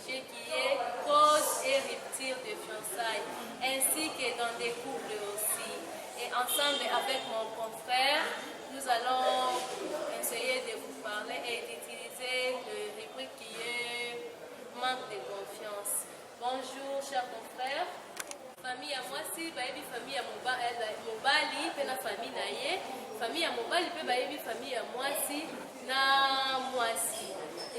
Ce qui est cause et rupture de fiançailles, ainsi que dans des couples aussi. Et ensemble avec mon confrère, nous allons essayer de vous parler et d'utiliser le rubrique qui est manque de confiance. Bonjour, chers confrères. famille ya mwasi bayebi famille ya mobali mpe na famille na ye famille ya mobali mpe bayebi famille ya mwasi na mwasi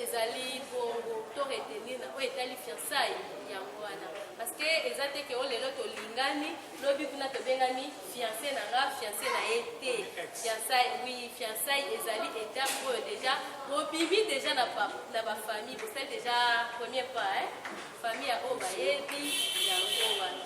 ezali bongo to retenir na oyo etali fiansai yango wana parce que eza te ke o oh, lelo tolingani lobi kuna tobengani fianse na nga fianse na ye te fiansai wi fiansai ezali etape oyo deja bobimi deja na bafamille bosali deja premier pas eh? famille ya oyo bayebi yango wana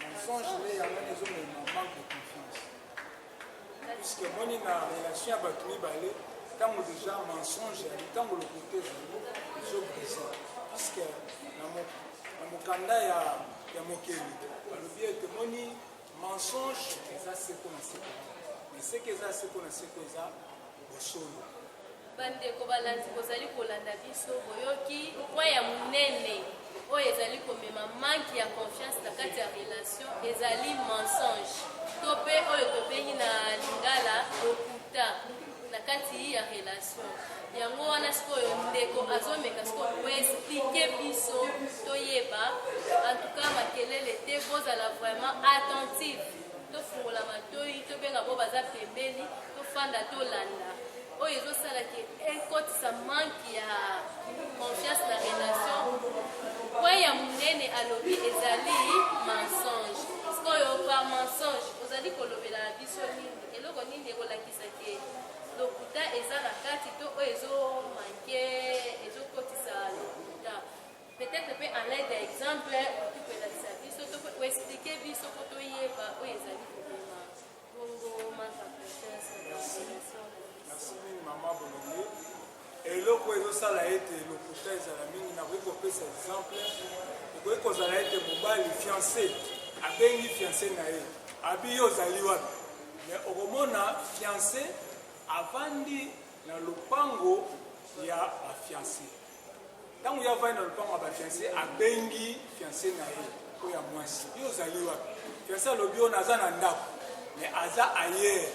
mensonge nde yango nde ezomema manque de confiance puisque moni na relation ya bato mibale ntango deja mensonge yali ntango lokote ezali ezobrise puisque na mokanda ya mokeli balobi ete moni mensonge eza seko na seko mais seke eza seko na seko eza bosolo. Bandeko balandi bozali kolanda biso, boyoki point ya munene oyo ezali komema manque ya confiance na kati ya relation ezali mensonge to pe oyo tobengi na lingala lokuta na kati ya relation yango wana sikoyo ndeko azomeka sikoyo koexplike biso toyeba antuka makelele te kozala vraiment attentive tofungola matoi tobenga bo baza pembeni tofanda tolanda oyo ezosala ke ekotisa manke ya confiance na relation point ya monene alobi ezali mensonge sikoyo par mensonge ozali kolobela biso nini eloko nini ekolakisa ke lokuta eza na kati to oyo ezomanke Peut-etre pe en aide ya exemple okoki kolakisa biso to ko expliquer biso po toyeba oyo ezali kobima bongo manque en confiance na population. Merci mingi maman Bolongo. Eloko ezosala ete lokuta ezala mingi, nakoki kopesa exemple. Ekoki kozala ete mobali fiancé abengi fiancé na ye abi yo ozali wapi, mais okomona fiancé avandi na lopango ya bafiancé Ntango ye avandi na lopango ya bafianse, abengi fianse na ye oyo ya mwasi, yo ozali wapi? Fianse alobi oyo naza na ndako, me aza ayere.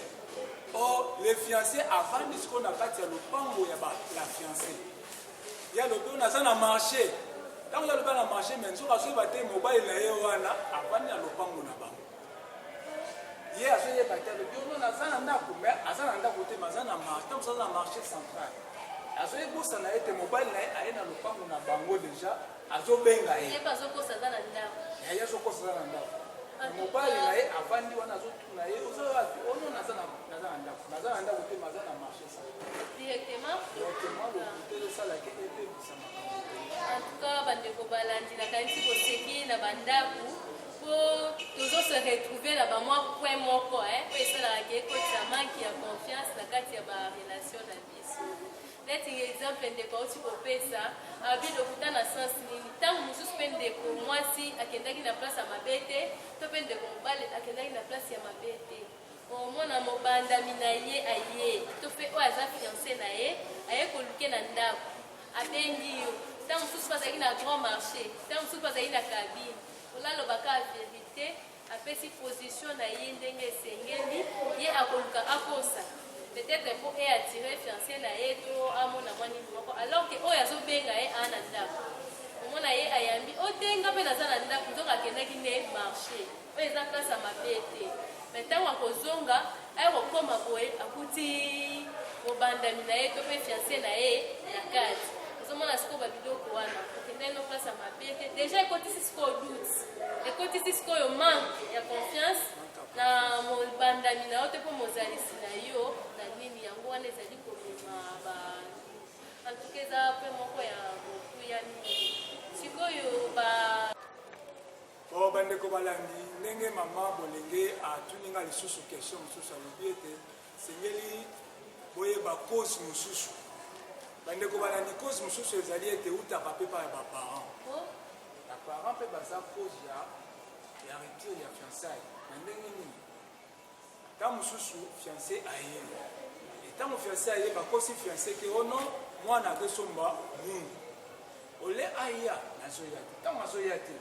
Or le fianse avandi sikoyo na kati ya lopango ya la fianse, ye alobi oyo naza na marche. Ntango ye alobi na marche, me nzoka azoyeba te mobali na ye wana avandi na lopango na bango. ye azoyeba te alobi ono naza na ndako me aza na ndako te maza na marché ntango aza na marché central azoyebosana ye te mobali na ye aye na lopango na bango deja azobenga ye azokosa aza na ndako ah, mobali na ye avandi wana azotuna ye oza wapi ono oh naza na ndako naza na ndako te maza na marché directement lokuta ezosalaki ebebisa makambo en tout cas bandeko balandi nakanisi koseki na bandako po tozo se retrouver na ba mwa point moko eh po esalaka ke ekotisa manque ya confiance na kati ya ba relation na biso neti exemple ndeko auti kopesa abi lokuta na sens nini ntango mosusu mpe ndeko mwasi akendaki na place ya mabe te to mpe ndeko mobali akendaki na place ya mabe te omona mobandami na ye aye to mpe oyo aza fiance na ye aye koluke na ndako abengi yo ntango mosusu mpe azalaki na grand marché ntango mosusu mpe azalaki na kabine Oyo aloba ka verite apesi position na ye ndenge esengeli ye akoluka akosa peut-être po e attirer fiancé na ye to amona mwa nini moko alors que oyo azobenga ye aa na ndako omona ye ayambi o te nga mpe naza na ndako nzoka akendaki nde marché oyo eza place ya mabe te mais ntango akozonga Aya kokoma boye akuti mobandami na ye to mpe fianse na ye na kati ozomona sikoyo babiloko wana okendai no place ya mabe te deja ekotisi sikoyo doute ekotisi sikoyo manque ya confiance na mobandami na yo te mpo mozalisi na yo na nini yango wana ezali komema ba antuka eza mpe moko ya mokuya mingi sikoyo ba Oh, bandeko balandi ndenge mama bolenge atuni nga lisusu question mosusu alobi ete sengeli boyeba cause mosusu bandeko balandi cause mosusu ezali ete eutaka mpe epai ya baparent baparent mpe baza cause ya ya rupture ya fiançaille na ndenge nini Tango mususu fiance aye et tango fiance aye bakosi fiance ke oh non mwana azosomba mungu au lieu aya nazoya te tango azoya te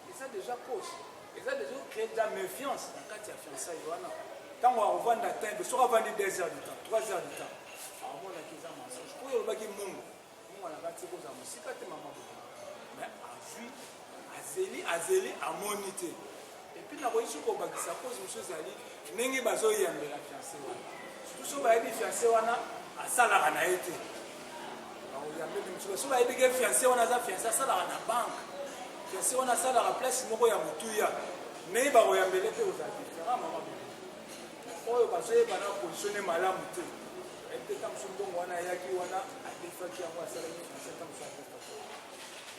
eza deja cause eza deja créer de la méfiance na kati ya fiançailles wana tango akovanda tembe soki avandi 2 heures du temps 3 heures du temps akomonaki eza mensonge oyo olobaki mungu Mungu na kati kozala mosika te mama boye. Mais azui azeli azeli amoni te. Et puis na koyisi ko bakisa cause monsieur zali ndenge bazo yambela fiancé wana. Surtout so bayebi fiancé wana asalaka na ye te. Bakoyambeli monsieur so bayebi ke fiancé wana aza fiancé asalaka na banque. Fiancé wana asalaka place moko ya motuya. Mais bakoyambele te ozali. Mama boye. oyo bazoyeba na positionne malamu te ayebite ntango mosusu mbongo wana ayaki wana adefaki yango asalaki français ntango mosusu adefaki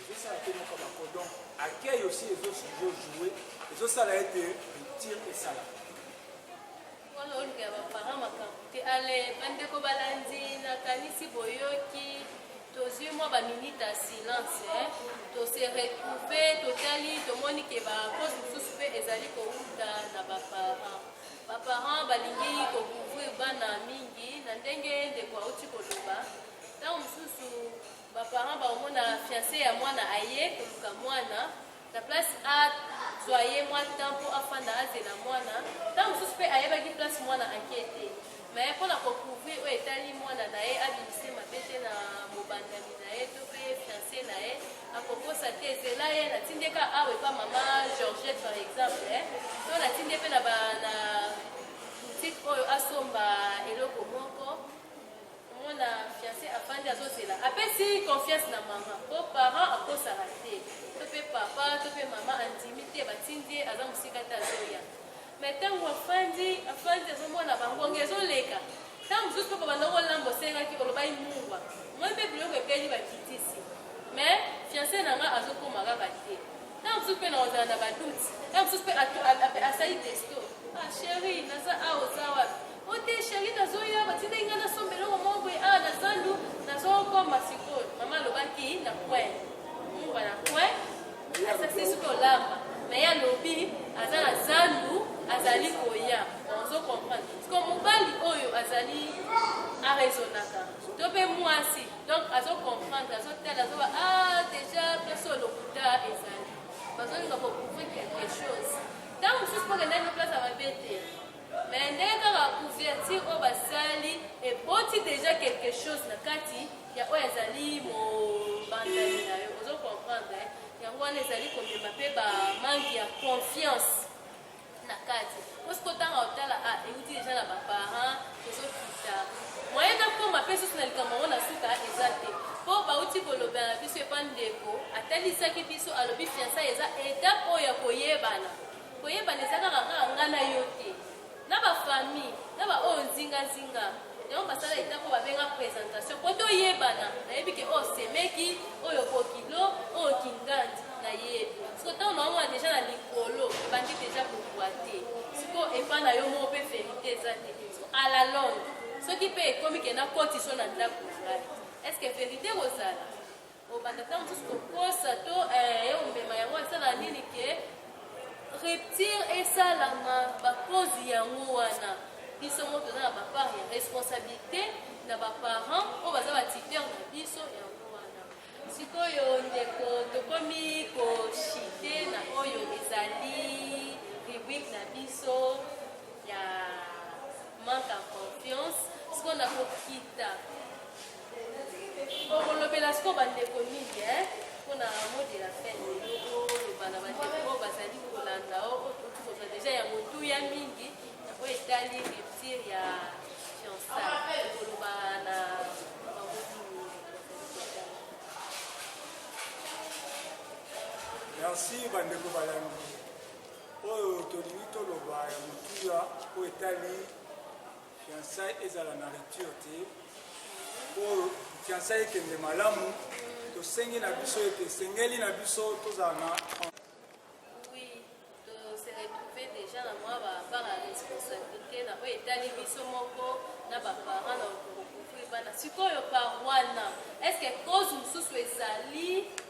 ezosala te moka bako donc accueil aussi ezojoue ezosala ete rupture esala wana olukela baparent makambo te ale bandeko balandi nakanisi boyoki tozwi mwa ba minute ya silence eh? tose retrouve totali tomoni ke bacause mosusu mpe ezali kowuta na baparent baparent balingi kocouvrir bana mingi na ndenge ndeko auti koloba ntango mosusu baparent bakomona fiance ya mwana aye koluka mwana Na place a zua ye mwa temps po afanda azela mwana, tango mosusu pe ayebaki place mwana ake te, mais pona ko couvrir oyo etali mwana na ye abimisi mabe te na mobandami na ye to pe fiance na ye, ako kosa te zela ye na tindi ye ka awa epa mama Georgette par exemple to na tindi ye pe na ba na boutique oyo asomba eloko moko. komona fiance afandi azozela apesi confiance na mama po parent akosaka te to mpe papa to mpe mama andimi te batindi ye aza mosika te azoya mai ntango afandi afandi azomona bangonga ezoleka ntango mosusu mpe babanda kolamba osengaki olobaki mungwa moi mpe biloko ebeli bakitisi mais fiance na ngai azokoma kaka te ntango mosusu mpe na kozala na baduti ntango mosusu mpe asali testo ah chéri naza awa oza wapi O te cherie nazo ya batindaki nga na somba eloko moko boye awa na zandu nazo koma sikoyo mama alobaki na coin mumba na coin asakisi soki olamba na ye alobi aza na zandu azali koya ozo comprendre sikoyo mobali oyo azali araisonnaka to mpe mwasi donc azo comprendre azotala azoba ah déjà biso lokuta ezali bazolinga kocouvrir quelque chose ntango mosusu mpo kendaki na place ya mabe te Mais nde kaka couverture oyo basali eboti deja quelque chose na kati ya oyo ezali mobandani na yo ozo comprendre eh? yango wana ezali komema mpe ba manque ya confiance na kati osi kotanga otala a ah, euti deja na baparent ezokita moyen nakoma mpe susu na likambo yango na suka eza te mpo bauti kolobela na biso epa ndeko atalisaki biso alobi fiansa eza etape oyo ya koyebana Koyebana ezaka kaka nga na yo te, na ba famille, na ba oyo nzinga nzinga. Yango basala eta ko babenga presentation po toyebana. Nayebi ke oyo semeki, oyo kokilo, oyo kingandi, nayebi. Siko tango naomona deja na likolo ebandi deja kokua te, siko epa na yo moko pe verite eza te. Siko a la longue soki pe ekomi ke nakotisa yo na ndako na ngai, est ce que verite ekozala? Obanda tango mosusu kokosa to eh, eomema yango esala nini ke rupture esalama bakozi yango wana biso moko toza na bapart ya responsabilité na baparent oyo baza batiteur na biso yango wana sikoyo ndeko tokomi koshite na oyo ezali rubrique na biso ya manque en confiance sikoyo nakokita Bokolobela sikoyo bandeko mingi eh, mpo na mot de la fin lelo boloba na bandeko oyo bazali kolanda o oyo touti kozwa deja ya motuya mingi na oyo etali rupture ya fiançaille koloba na bango nini merci bandeko balandi oyo tolingi toloba ya motuya oyo etali Fiançailles ezala na rupture te mpo fiançailles ekende malamu tosengi na biso ete esengeli na biso tozala na déjà na mwa bapart ya responsabilité na oyo etali biso moko na baparent na okokokokoe bana sikoyo par wana estce cause mosusu ezali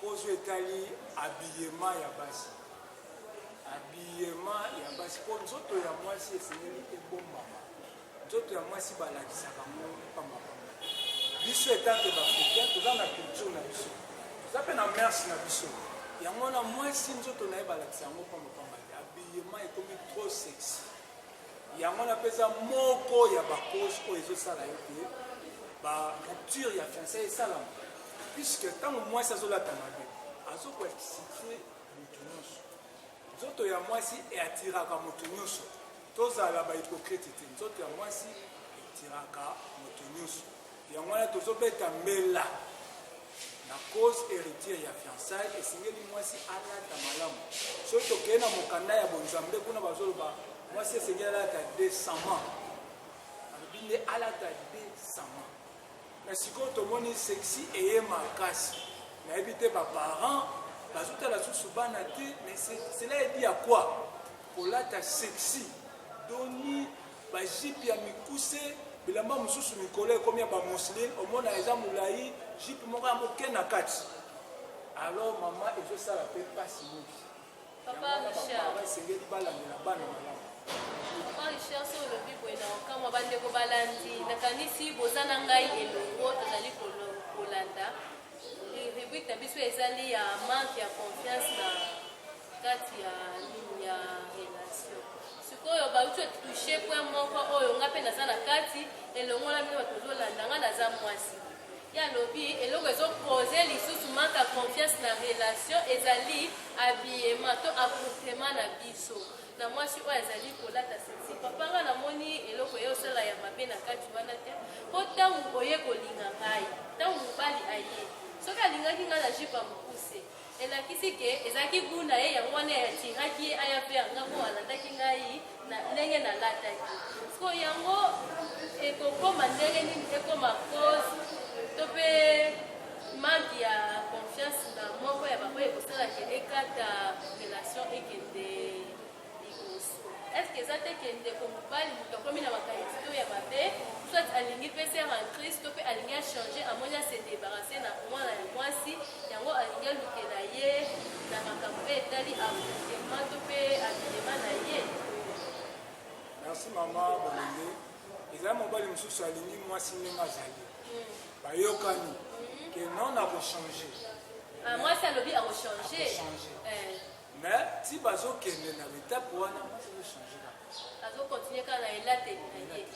Poso etali habillement ya basi, habillement ya basi mpo nzoto ya mwasi esengeli ebombama. Nzoto ya mwasi balakisaka ngo pamba pamba. Biso etanke baafricain toza na culture na biso, toza mpe na merce na biso, yango wana mwasi nzoto na ye balakisa yango pamba pamba te, habillement ekomi trop sexy. Yango wana mpe eza moko ya bacause oyo ezosala ete ba rupture ya fiançai esalama puisque ntango mwasi azolata mabe azokoexcite motu nyonso nzoto ya mwasi eatiraka motu nyonso tozala bahypocrite te nzoto ya mwasi etiraka motu nyonso Yango wana tozobeta mbela na cause heritier ya fiançailles esengeli mwasi alata malamu soki tokei na mokanda ya bonzambe kuna bazoloba mwasi esengeli alata desament alobi nde alata desament na sikoyo tomoni sexi eye makasi nayebi te baparent bazotala susu bana te mais cela edi ya kua kolata sexi doni ba jupe ya mikuse bilamba mosusu mikolo ekomi ya bamusline omona eza molai jupe moko ya moke na kati alors mama ezosala mpe mpasi mingi esengeli balandela bana malamu richard so olobi boye na okamwa bandeko balandi nakanisi boza na ngai elongo tozali kolanda rubrike na biso ezali ya manque ya confiance na kati ya nini ya relation sikoyo bauti otouche point moko oyo nga mpe naza na kati elongola bino bato ozolanda nga naza mwasi ye alobi eloko ezopose lisusu manka confiance na relation ezali abiyema to akomplema na biso na mwasi oyo azali kolata sesi papa nga namoni eloko ye osala ya mabe na kati wana te mpo ntango oye kolinga ngai ntango mobali aye soki alingaki ngai na jipa mokuse Elakisi ke ezalaki gout na ye yango wana atiraki ye aya mpe yanga mpo alandaki ngai na ndenge nalataki. Siko yango ekokoma ndenge nini ekoma cause to mpe manque ya confiance na moko ya baoyo ekosalaka ekata relation ekende liboso est ce que eza te ke ndeko mobali moto akomi na makanisi to ya mabe soit alingi mpe se rentriste to mpe alingi achange amoni ase debarase na mwana ya mwasi yango alingi alukela ye na makambo oyo etali avortema to mpe abilema na ye merci mama bolenge eza mobali mosusu alingi mwasi ndenge azali hmm. bayokani hmm. ke non akochange ah, mwasi alobi akochange eh. Mais ti bazo kende na l'etape wana mwasi azo changer kaka. Azo continuer kaka na elateli na ye.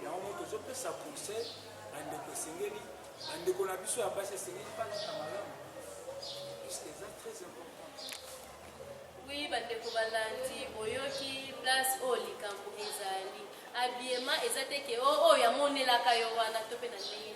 Yango moto tozo pesa conseil bandeko esengeli bandeko na biso ya basi esengeli balata malamu puisque eza très important. Oui bandeko balandi boyoki place oyo likambo ezali. Habillement eza te ke oyo oh, oh, yamonelaka yo wana to mpe na ndenge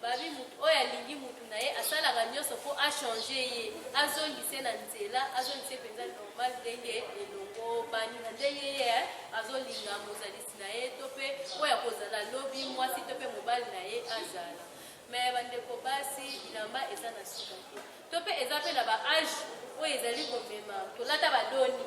Babi mutu oyo alingi mutu na ye asalaka nyonso mpo a changer ye azongise na nzela azongise mpenza normal ndenge elongobani na ndenge ye azolinga mozalisi na ye to mpe oyo akozala lobi mwasi to mpe mobali na ye azala me bandeko basi bilamba eza na suka te to mpe eza mpe na ba age oyo ezali komema tolata badoni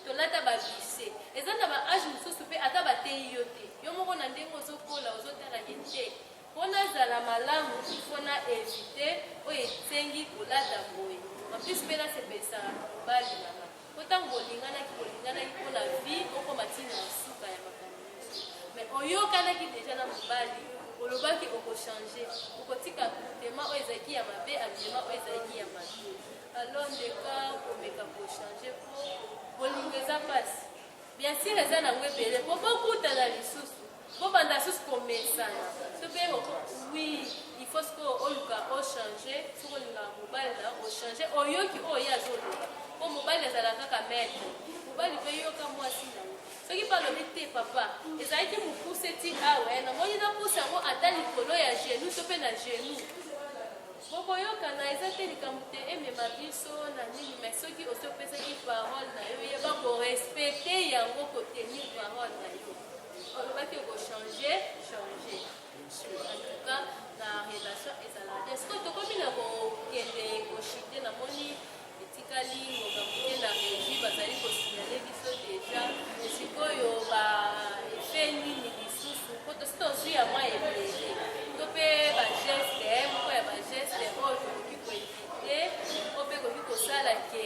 tolata babise eza na ba age mosusu mpe ata bateyi yo te yo moko na ndenge ozokola ozotala ye te Mpo nazala malamu il faut na eviter oyo esengi kolata boye en plus mpe nasepelisaka mobali na nga mpo ntango bolinganaki bolinganaki mpo na vie okoma ntina ya suka ya makambo nyonso mais oyokanaki deja na mobali olobaki okochange okotika tema oyo ezalaki ya mabe abima oyo ezalaki ya mabe alors ndeka komeka kochange mpo bolingo eza mpasi bien sire eza nango ebele mpo bokutana lisusu Bobanda lisusu komesana to mpe oui il faut sikoyo oluka ochange soki olingaka mobali na yo ochange oyoki oyo ye azoloba mpo mobali azala kaka maître mobali mpe yoka mwasi na yo soki mpe alobi te papa ezalaki mokuse ti awa ah namoni napusa yango ata likolo ya genou to mpe na genou bokoyokana eza te likambo te emema biso na nini mai soki osi opesaki parole na yo yeba korespecte yango kotenir parole na yo Olobaki oko changer, changer. En tout cas, na relation ezala bien. Est-ce que tokomi na kokende koshite na moni etikali ngoka moke na reji bazali kosignale biso deja sikoyo ba efe nini lisusu po tosi tozwi ya mwa ebele to mpe bageste moko ya bageste oyo tokoki koevite o mpe ekoki kosala ke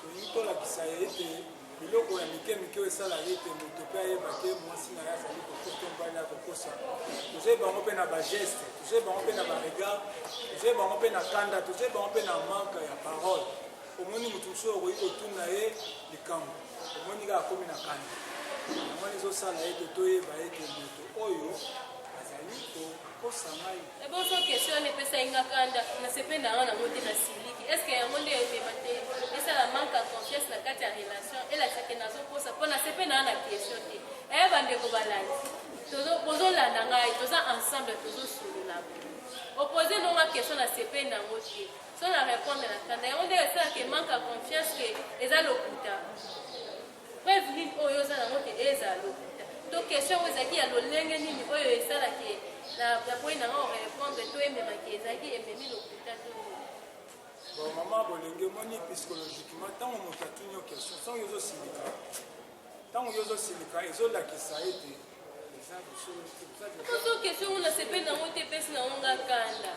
Tolingi tolakisa ye ete biloko ya mike mike oyo esalaka ete moto mpe ayeba te mwasi na ye azali kokosa mobali ya kokosa tozoi bango mpe na bageste tozoi bango mpe na baregard tozoi bango mpe na kanda tozoi bango mpe na manke ya parole omoni moto mosusu oyo okoki kotuna ye likambo omoni kaka akomi na kanda yango wana ezosala ete toyeba ete moto oyo azali kokosa ngai Eboso question wana epesaki nga kanda nasepeli na yango nango te na siliki est ce que yango nde emema te esala manque ya confiance na kati ya relation elakisa ke nazokosa mpo nasepeli na yango na question te eye bandeko balandi bozolanda ngai toza ensemble tozosolola opose nonga question nasepeli na yango te so na répondre na kanda yango nde esalaka manque ya confiance ke eza lokuta Preuve nini oyo oza nango ke eza lokuta? To question yango ezalaki ya lolenge nini oyo esala ke na boyi na nga o repondre to emema ke ezalaki ememi lokuta to nini? Bon mama bolenge omoni psychologiquement ntango moto atuni yo question soki yo ozosilika ntango yo ozosilika ezolakisa ete eza bosolo te ozo question ngo nasepeli nango te epesi nango nga kanda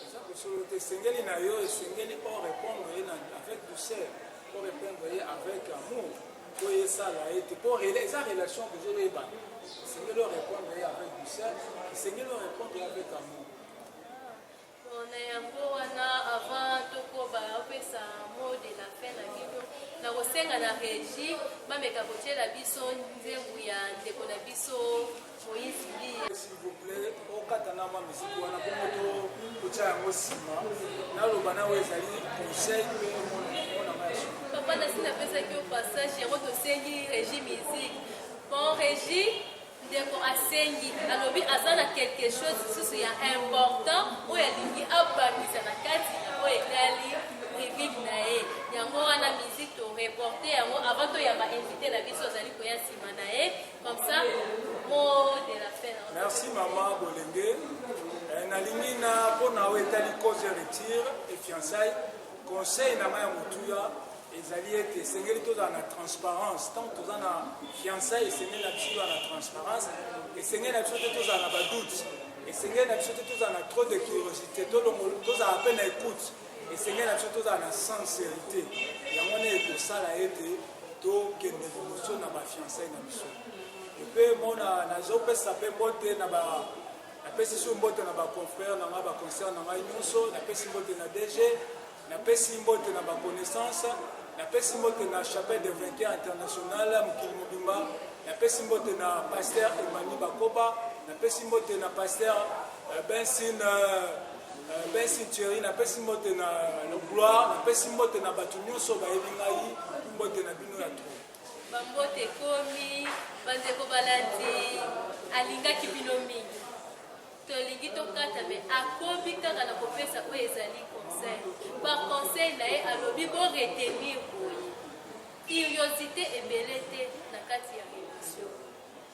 eza bosolo te esengeli na yo esengeli o répondre ye na avec douceur o répondre ye avec amour po esala ye te po eza relation bozolo yebana esengeli o répondre ye avec douceur esengeli o répondre ye avec amour na yango wana avant tokoba opesa mot de la fin na bino nakosenga na régie bameka kotyela biso nzembo ya ndeko na biso Moïse Mbiye. S'il vous plaît, okata na mwa miziki wana bongo to kotya yango nsima naloba na oyo ezali conseil mpe monama ya solo. Papa nasi napesaki yo passage yango tosengi régie musique. Bon régie ndeko asengi alobi aza na quelque chose lisusu ya important oyo alingi abakisa na kati oyo etali rubrique na ye yango wana musique toreporte yango avant toyamba invité na biso azali koya nsima na ye Comme ça, mot de la fin. Merci maman Bolenge. Eh, nalingi na mpo na oyo etali cause ya retire e fiançaille conseil na ngai ya motuya ezali ete esengeli tozala na transparence ntango toza na fiançaille esengeli na biso tozala na transparence esengeli na biso te tozala na badoute esengeli na biso te tozala na trop de curiosité tozala mpe na écoute Esengeli na biso tozala na sincerite, yango wana ekosala ete tokende liboso na bafiansai na biso. Mpe mona nazopesa mpe mbote na ba napesi su mbote na baconfrère na ngai baconcert na ngai nyonso, napesi mbote na DG, napesi mbote na baconnaissance, napesi mbote na chapelle de vainqueur international mokili mobimba, napesi mbote na pasteur Emmanuel Bakoba, napesi mbote na pasteur euh, Bensin euh, Benson Thierry, napesi mbote na Gloire, napesi mbote na bato nyonso bayebi ngai, mbote na bino ya tro. Bambote ekomi, bandeko balandi, alingaki bino mingi. Tolingi tokata me akobi kaka na kopesa oyo ezali conseil. Ba conseil na ye alobi bo retenir boye. Curiosité ebele te na kati ya emission.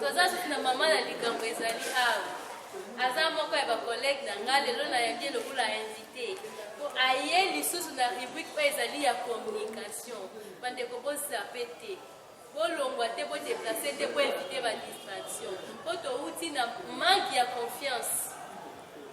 toza susu na mama na likambo ezali awa aza moko ya bakolege na ngai lelo nayambi lokola invité mpo aye lisusu na rubrike oyo ezali ya communication bandeko bosape te bolongwa te bodeplace te boevite badistraction mpo touti na manke ya confiance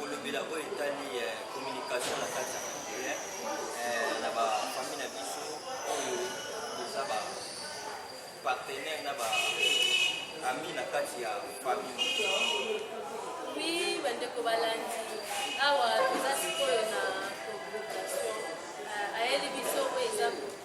kolobela oyo etali eh, communication na kati ya congolais eh, na bafamille na biso oyo toza ba partenaire na ba ami na kati ya famille wi bandeko balandi awa toza sikoyo na communication eh, ayeli biso oyo eza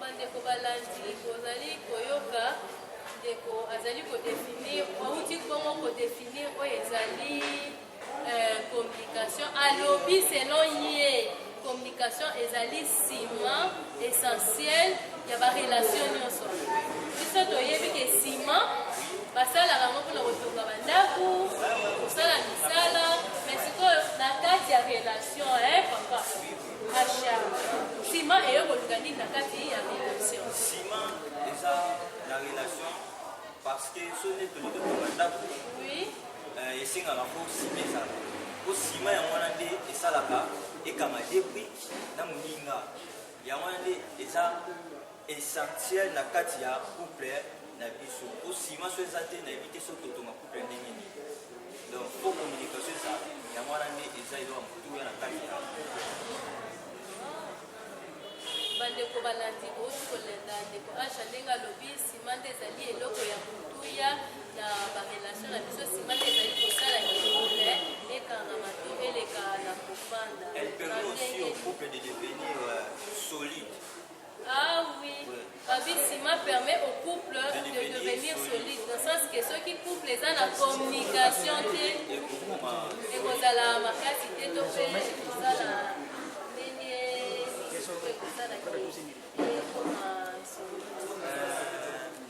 Bandeko balandi, bozali koyoka ndeko azali kodefinir, auti bongo kodefinir oyo ezali euh, communication. Alobi selon ye communication ezali sima essentiel ya barelation nyonso. Biso toyebi ke sima basalaka yango mpona kotonga bandako, kosala misala, mais sikoyo na kati ya relation eh, papa Ma chère, ciment eyo koluka nini na kati ya relation? Ciment eza na relation parce que soki nde tolingi kotonga ndako Oui. eh, esengaka mpo sima ezala mpo sima yango wana nde esalaka ekanga de brique na moninga yango wana nde eza essentiel na kati ya couple na biso po sima so eza te nayebi te so totonga couple ndenge nini donc po communication eza yango wana nde eza eloko motuya na kati ya bandeko balandi bouti kolanda ndeko asha ndenge alobi sima nde ezali eloko ya motuya na barelation na biso sima nde ezali kosala couple ekangama to eleka na kofanda elle permet aussi au couple de devenir euh, solide Ah oui, Babi Sima permet au couple de devenir solide, dans le sens que ceux qui couple eza na communication te, ekozala makasi te to pe ekozala ndenge nini, ekozala te. Ekoma solide.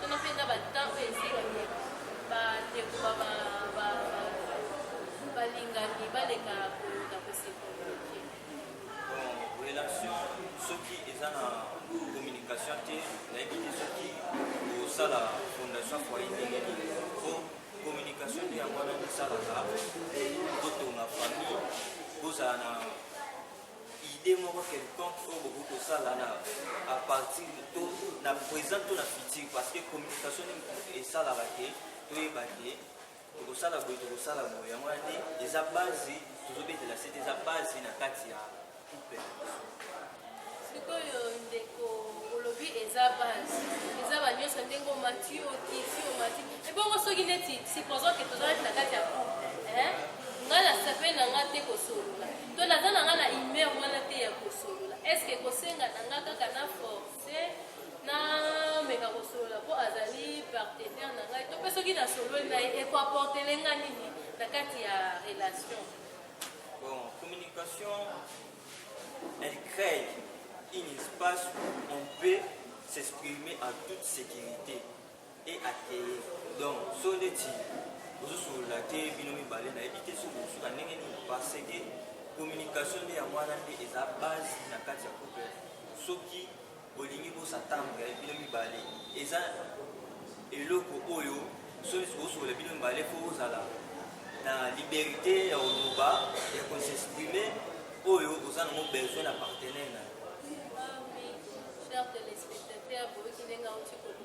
Tuna mpe na batemp oyo ezikaki bandeko balingani baleka na kosekomoke relation soki eza na communication te nayebi te soki kosala fondation foye ndenge nini po communication nde yango wana kosalaka botonga famille bozala na idee moko quelconque oyo bokoki kosala na a partir to na présent to na futur parce que communication nde esalaka ke toyeba ke tokosala boye tokosala boye yango wana nde eza base tozobetela sete eza base na kati ya couple sikoyo ndeko olobi eza base eza banyonso ndenge omati okiti omati ebongo soki neti supposant ke tozalaki na kati ya couple ngai nasepeli na ngai te kosolola To naza na nga na humeur wana te ya kosolola. Est-ce que kosenga na nga kaka na force na meka kosolola mpo azali partenaire na ngai to mpe soki nasololi na ye ekoaportele nga nini na kati ya relation bon communication elle crée un espace où on peut s'exprimer en toute sécurité et ateye donc so neti ozosolola te bino mibale nayebi te soki osuka ndenge nini parce que communication nde yango wana nde eza base na kati ya couple soki bolingi bosatambwe ya bino mibale eza eloko oyo soki osokola bino mibale mpo ozala na liberté ya koloba ya kosexprime oyo oza nango besoin na partenaire na yo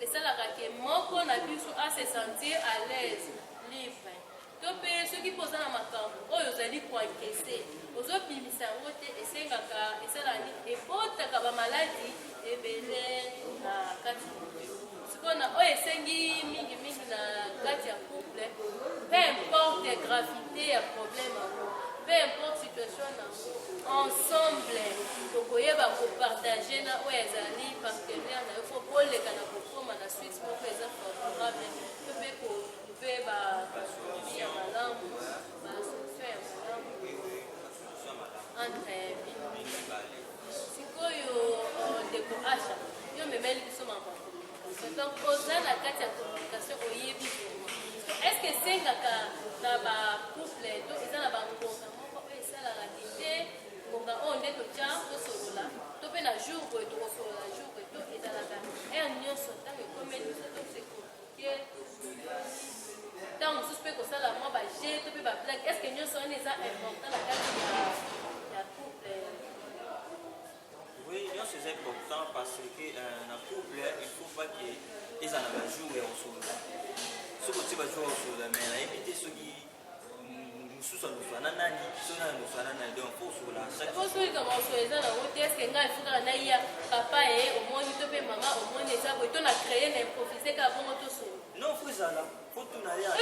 Esalaka que moko na biso a se sentir à l'aise, libre. To mpe soki mpe oza na makambo oyo ozali ko encaisser, ozobimisa yango te, esengaka esalaka nini? Ebotaka ba maladies ebele na kati na yo. Sikoyo na oyo esengi mingi mingi na kati ya couple, peu importe gravité ya problème yango, peu importe situation na Ensemble tokoyeba ko partager na oyo ezali partenaire na yo mpo boleka na kokoma na suite moko eza favorable to mpe ko mpe ba ya malamu ba solution ya malamu entre bino sikoyo euh, ndeko asha yo memeli biso makambo Donc oza na kati ya communication oyebi bongo. Est-ce que esengaka na ba couple to eza na ba ngonga moko oyo esalaka ki te ngonga oyo nde totya tosolola to mpe na jour boye tokosolola jour boye to ezalaka heure nyonso ntango ekomeli biso to se communique ntango mosusu mpe kosala mwa ba jeu to mpe ba blague est-ce que nyonso wana eza important na kati ya ya couple Oui, nyonso eza important parce que euh, na couple il faut pas que ezala na jour ya kosolola soki otie bajour ya kosolola mais nayebi te soki mosusu aluka na nani biso na aluka na nani donc mpo osola chaqueosoyika maosolo eza na yango te eske ngai efukaka naiya papa ye omoni to mpe mama omoni eza boye to na creye na improvise kaka bongo tosolo non fo ezala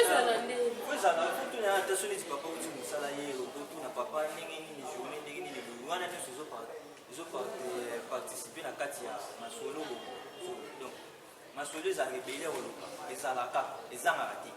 ezala nde ezala kutu na ata soki neti papa uti mosala ye lokutu na papa ndenge nini journée ndenge nini boye wana nyonso ezoparticipe na kati ya masolo bongo donc masolo eza rebele koloba ezalaka ezangaka te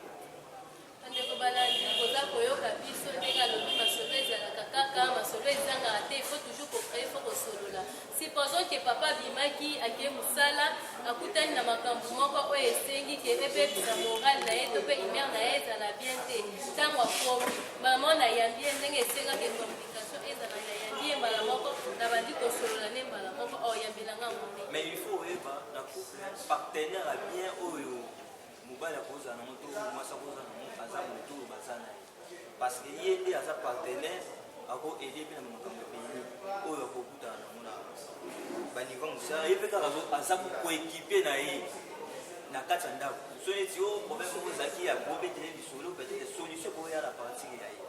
ndeko balandi koza koyoka biso ndenge alobi masolo ezalaka kaka masolo ezangaka te il faut toujours kocree faut kosolola Supposons que papa abimaki akei musala akutani na makambo moko oyo esengi ke ebebisa morale na ye to mpe humeur na ye ezala bien te ntango akomi mama na yambi ye ndenge esengaki communication ezala na yambi ye mbala moko nabandi kosolola ne mbala moko oyambela nga yango te mais il faut oyeba na couple partenaire ya bien oyo mobali akozala nango to mwasi akozala nango aza moto oyo baza na ye parce que ye nde aza partenaire ako aide mpe na makambo ebele oyo akokutana nango na banivo mosala ye mpe kaka aza koekipe na ye na kati ya ndako so neti o oh, problème moko ezalaki ya kobetele lisolo peut-être solution ekoya na partir ya ye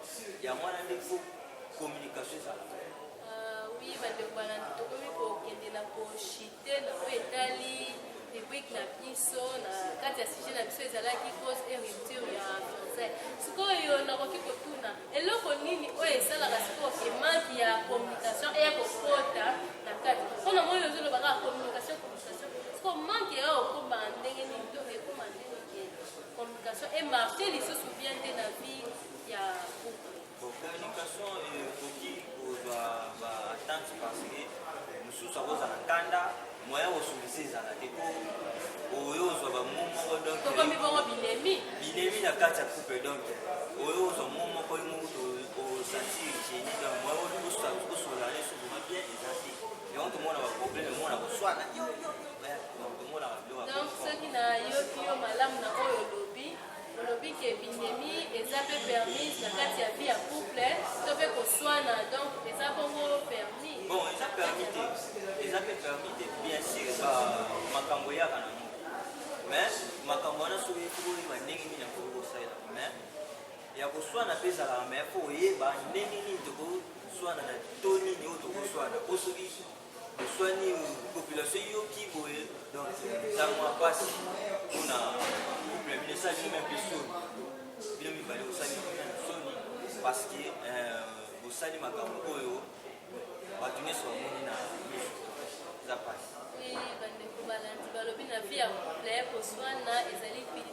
yango wana nde fo communication ezalaka euh, oui bandeko bana tokomi kokendela koshi te na oyo etali rubrike na biso na kati ya sujet na biso ezalaki cause et rupture ya français sikoyo nakoki kotuna eloko nini oyo esalaka sikoyo ke manque ya communication eya kokota na kati mpo na moi ozoloba kaka communication communication siko manque ya okoma ndenge nini to ekoma ndenge communication emarche lisusu bien te na vie ya Communication ekoki kozwa ba attente parce que mosusu akozala kanda moyen kosolise ezala te po oyo ozwa bamo moko donc tokomi bongo binemi binemi na kati ya couple donc oyo ozwa mo moko yo moko osanti genie donc moyen oyo kosola kosola ne soki ma bien eza te yango tomona ba problème mona koswana yo yo yo tomona ba donc soki na yoki yo malamu na oyo Olobi ke bindemi eza pe permise na kati ya vie ya couple to pe koswana donc eza bongo permis. Bon eza permis te eza pe permis te bien sûr ba makambo eyaka na moto mais makambo wana soki ekokoyeba ndenge nini akoki kosalela mais ya koswana pe ezalaka mais po oyeba ndenge nini tokoswana na to nini oyo tokoswana po soki Oswani population eyoki boye donc ntango ya mpasi mpona couple ya bino esali bino mpe soni bino mibale osali soni parce que euh, bosali makambo oyo bato nyonso bamoni na miso eza mpasi bandeko balandi balobi na vie ya couple koswana ezali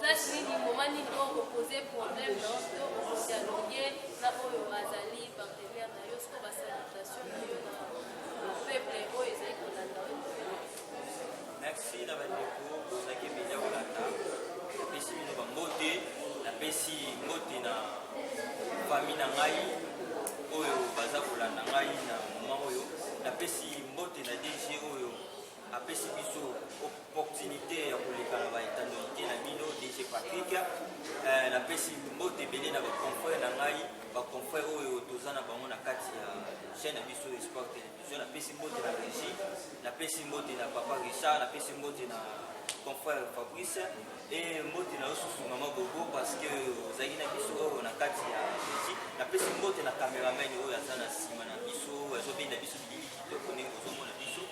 Place nini moment nini oyo kopose problème na yo to okodialogue na oyo azali partenaire na yo soko basalutation na yo na peuple oyo ezali kolanda yo merci na bandeko bozalaki media kolanda napesi bino bambote napesi mbote na fami na ngai oyo baza kolanda ngai na moma oyo napesi mbote na dg oyo apesi biso opportunité ya koleka na baetanolite na bino dg patrick eh, napesi mbote ebele na baconfrère na ngai baconfrère oyo toza na bango na kati ya chaîne na biso espoir télévision napesi mbote na régie napesi mbote na papa richard napesi mbote na confrère fabrice e mbote na yo susu mama bobo parce que ozalaki na biso oyo na kati ya régie napesi mbote na cameraman oyo aza na nsima na biso azobenda biso bilili kitoko ndenge ozomona biso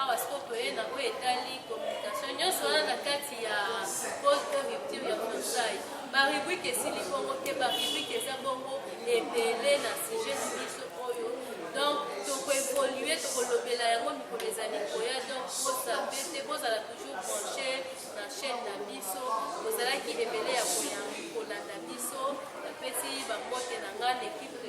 Awa sikoyo toye na oyo etali communication nyonso wana na kati ya pole to rupture ya fiançailles barubrike esili bongo te barubrike eza bongo ebele na sujet na biso oyo donc tokoevolue tokolobela yango mikolo ezali koya donc bosape te bozala toujours branche na chaîne na biso bozalaki ebele ya kolanda biso napesi bambote na ngai na ekipe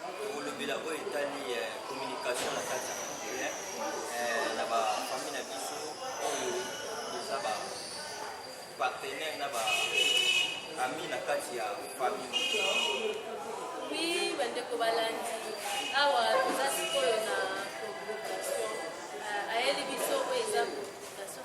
kolobela oyo etali eh, communication na kati ya congolais eh, na bafami na biso oyo eza bapartenaire na baami na kati ya fami wi bandeko balandi awa toza sikoyo na communication eh, ayeli biso oyo eza communication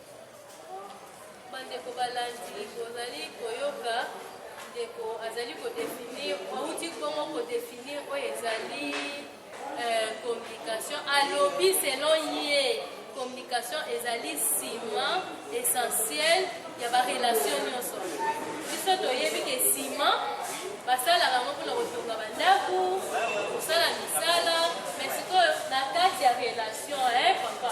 Bandeko balandi, bozali koyoka ndeko azali kodefinir, auti bongo kodefinir oyo ezali euh, communication. Alobi selon ye communication ezali nsima essentiel ya barelation nyonso. Biso toyebi ke nsima basalaka yango mpona kotonga bandako, kosala misala, mais sikoyo na kati ya relation eh, papa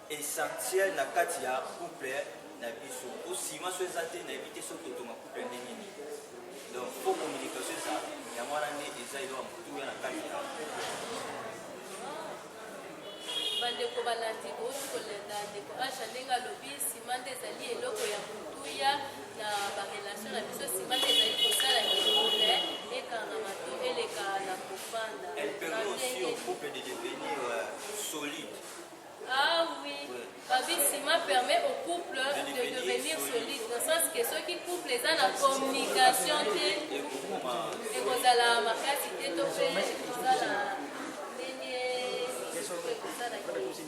essentiel na kati ya couple na biso po sima so eza te nayebi te soki otonga couple ndenge nini donc po communication eza yango wana nde eza eloko motuya na kati ya bandeko balandi bouti kolanda ndeko asha ndenge alobi sima nde ezali eloko ya motuya na barelation na biso sima nde ezali kosala couple ekangama to eleka na kofanda elle permet aussi au couple de devenir euh, solide Ah oui, babi sima permet au couple de devenir solide, dans le sens que ceux qui couple eza na communication te, ekozala makasi te to pe ekozala ndenge misusu ekozala te.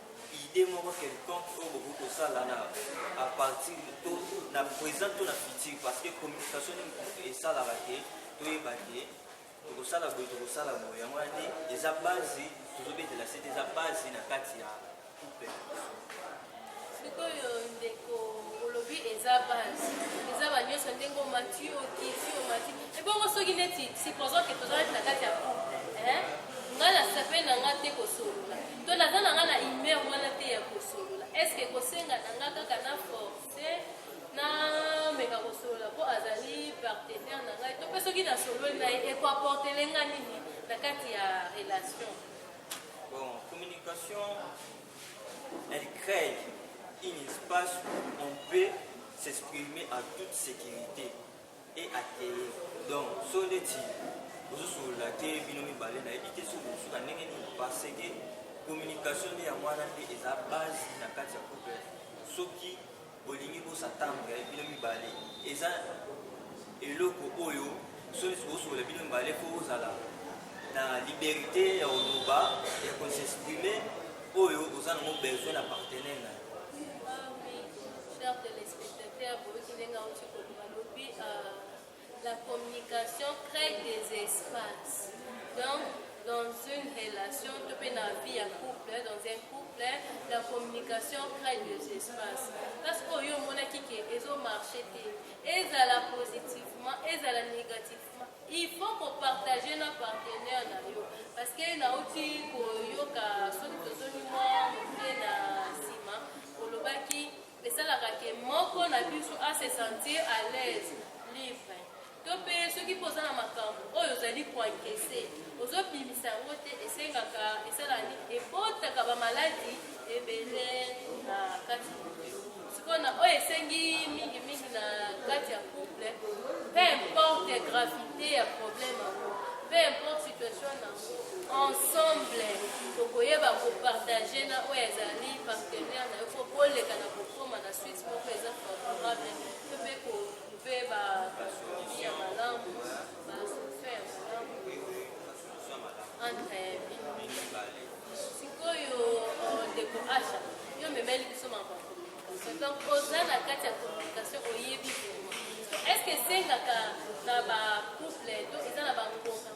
idee moko quelconque oyo bokoki kosala na à partir to na present to na futur parce que communication nini kutu esalaka te toyeba te tokosala boye tokosala boye yango wana nde eza base tozobetela sete eza base na kati ya couple sikoyo ndeko olobi eza base eza banyonso ndenge omati okiti omati ebongo soki neti supposons ke tozalaki na kati ya couple ngai nasepeli na ngai te kosolola To naza na nga na humeur wana te ya kosolola. Est-ce que kosenga na nga kaka na forcer na meka kosolola po azali partenaire na ngai to pe soki na sololi na ye eko apporter lenga nini na kati ya relation? Bon, communication elle crée un espace où on peut s'exprimer à toute sécurité. et atelier donc so neti bozosolola te bino mibale nayebi te soki bosuka ndenge nini parce que communication nde yango wana nde eza base na kati ya couple soki bolingi bosatambwe bino mibale eza eloko oyo soki bozosolola bino mibale mpo ozala na liberté ya koloba ya kosexprime oyo oza nango besoin na partenaire na yo balobi la communication crée des espaces donc dans une relation to mpe na vie ya couple dans un couple la communication crée des espaces parce que oyo omonaki ke ezomarche te ezala positivement ezala négativement il faut kopartage na partenaire na yo parce que nauti koyoka soki tozongi mwa moke na nsima olobaki Esalaka que moko na biso a se sentir à l'aise, libre. To mpe soki mpe oza na makambo oyo ozali ko encaisser, ozobimisa yango te, esengaka esalaka nini? Ebotaka ba maladies ebele na kati na yo. Sikoyo na oyo esengi mingi mingi na kati ya couple, peu importe gravité ya problème yango, peu importe situation na Ensemble, tokoyeba ko partager na oyo azali partenaire na yo mpo boleka na kokoma na suite moko eza favorable mpe mpe ko mpe ba solution ya malamu ba solution ya malamu entre sikoyo euh, ndeko asha yo memeli biso mambo ya communication donc oza na kati ya communication oyebi est ce que esengaka na ba couple to eza na bangonga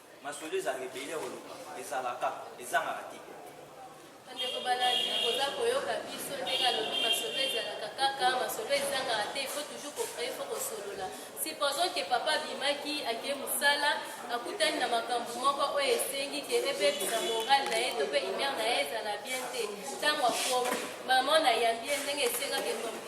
Masolo ezala ebele oloba ezalaka ezangaka te. Bandeko balandi koza koyoka biso ndenge alobi masolo ezalaka kaka masolo ezangaka te ifo toujours kofraye fo kosolola supposons ke papa abimaki ake mosala akutani na makambo moko oyo esengi ke ebebisa moral na ye to mpe imere na ye ezala bien te ntango akomi mama na yambi ye ndenge esengaki ekomi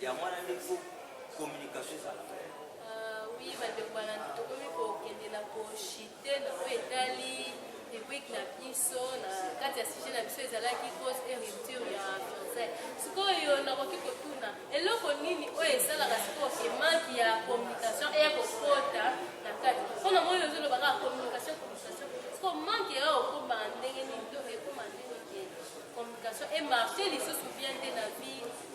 yango wana nde fo communication ezala ah, oui bandeko bana tokomi kokende na koshite na oyo etali rubrike na biso na kati ya sujet na biso ezalaki cause et rupture ya français sikoyo nakoki kotuna eloko nini oyo esalaka sikoyo ke manque ya communication eya kokota na kati mpo na moi ozoloba kaka communication communication sikoyo manque eya kokoma ndenge nini to ekoma ndenge communication emarche lisusu bien te na vie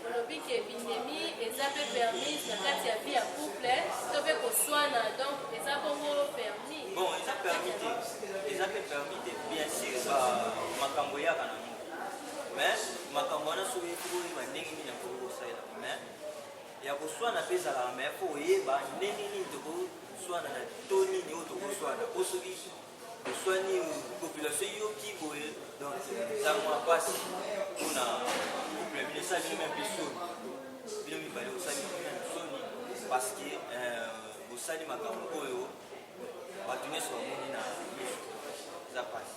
Olobi ke bindemi eza pe permise na kati ya vie ya couple to pe koswana donc eza bongo permis. Bon eza permis te eza pe permis te bien sûr ba makambo eyaka na ngo mais makambo wana soki oyebi oyeba ndenge nini ya koki kosalela mais ya koswana pe ezalaka mais po oyeba ndenge nini tokoswana na to nini oyo tokoswana po soki Oswani population eyoki boye donc eza mwa mpasi mpona couple bino esali bino mpe soni bino mibale osali bino soni parce que euh, bosali makambo oyo bato nyonso bamoni na miso eza mpasi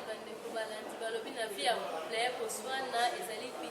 bandeko balandi balobi na vie ya couple koswana ezali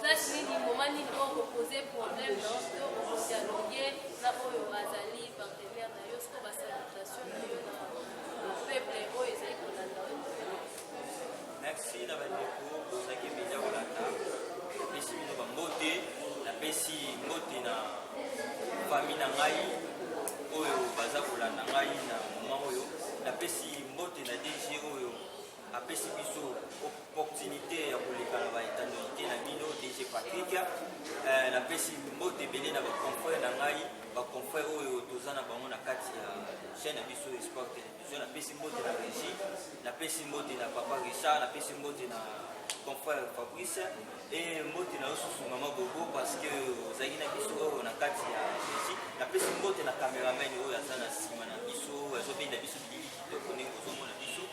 Place nini, moment nini oyo oko poser problème na yo to oko dialoguer na oyo azali partenaire na yo siko ba salutation na yo na peuple oyo ezali kolanda yo. Merci na bandeko bozalaki mpenza kolanda. Napesi bino bambote, napesi mbote na fami na ngai oyo baza kolanda ngai na moma oyo. Napesi mbote na DG oyo apesi biso opportunité ya koleka na baetanolite na bino dg patrick eh, napesi mbote ebele na baconfrère na ngai baconfrère oyo toza na bango na kati ya chaîne ya biso esport télévision napesi mbote na régie napesi mbote na papa richard napesi mbote na confrère fabrice e mbote na yo susu mama bobo parce que ozalaki na biso oyo na kati ya régie napesi mbote na cameraman oyo aza na nsima na biso azobenda biso bilili kitoko ndenge ozomona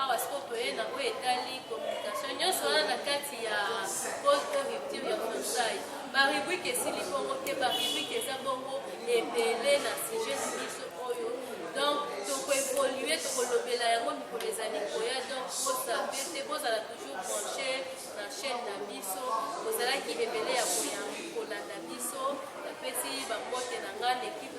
Awa sikoyo toye na oyo etali communication nyonso wana na kati ya pose to rupture ya fiançailles barubrike esili bongo te barubrike eza bongo ebele na sujet na biso oyo donc tokoevolue tokolobela yango mikolo ezali koya donc bosape te bozala toujours branche na chaîne na biso bozalaki ebele ya koya kolanda biso napesi bambote na ngai na ekipe